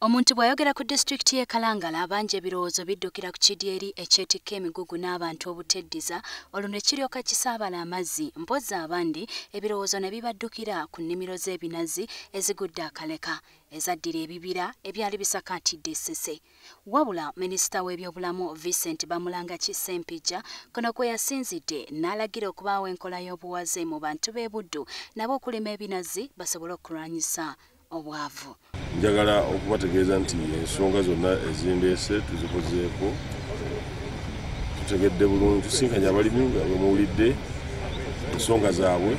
Omuntu bw'ayogera ku disitulikiti y'e Kalangala abangi ebirowoozo biddukira ku kidyeri ekyetikka emigugu n'abantu obuteddiza olwo ne kiryoka kisaabala amazzi mpozzi abandi ebirowoozo ne bibaddukira ku nnimiro z'ebinazi ezigudde akaleka ezaddira ebibira ebyali bisakaatidde essese wabula minisita w'ebyobulamu Vincent Bamulanga Kisempijja kuno kwe yasinzidde n'alagira okubaawo enkola y'obuwaze mu bantu b'e Buddu nabo okulima ebinazi basobole okulwanyisa obwavu njagala okubategeeza nti ensonga zonna ezindeese tuzikozeeko tutegedde bulungi tusinkanye abalimi nga bwemuwulidde ensonga zaabwe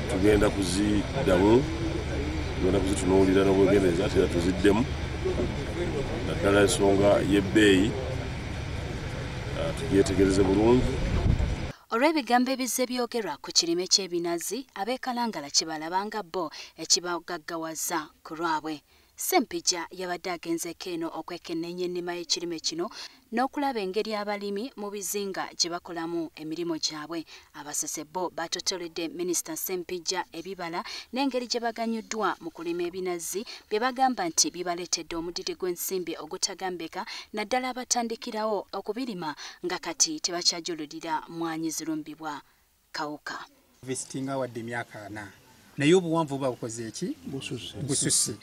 tugenda kuziddamu tugenda kuzitunuulira n'obwegendereza tera tuziddemu naddala ensonga y'ebbeeyi ah, tugyetegereze bulungi Olw'ebigambo ebizze byogerwa ku kirime ky'ebinazi, ab'e Kalangala kye balaba nga bo ekibagaggawaza ku lwabwe. Ssempijja yabadde agenzeeko eno okwekenneenya ennima y'ekirime kino n'okulaba engeri abalimi mu bizinga gye bakolamu emirimu gyabwe. Abasese bo baatotoledde minisita Ssempijja ebibala n'engeri gye baganyuddwa mu kulima ebinazi bye bagamba nti bibaleetedde omudidi gw'ensimbi ogutagambika naddala abatandikirawo okubirima nga kati tebakyajululira mwanyi zirumbibwa kawuka visitinga wadde emyaka ana naye obuwanvu buba bukoze eki bususi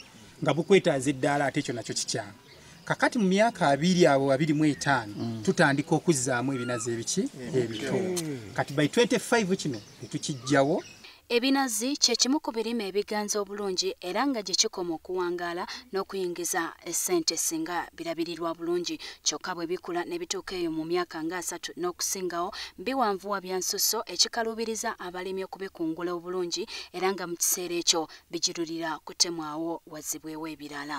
nga bukwetaaza eddaala ate ekyo nakyo kikyamu kakati mu myaka abiri abo abiri mu etaano mm. tutandika okuzzaamu ebinazi ebiki ebito kati by 25 kino etukijjawo Ebinazi kye kimu ku birime ebiganza obulungi era nga gye kikoma okuwangaala n'okuyingiza essente singa birabirirwa bulungi kyokka bwe bikula ne bituuka eyo mu myaka nga asatu n'okusingawo biwanvuwa bya nsusso ekikaluubiriza abalimi okubikungula obulungi era nga mu kiseera ekyo bigirulira kutemwawo wazibwewo ebirala.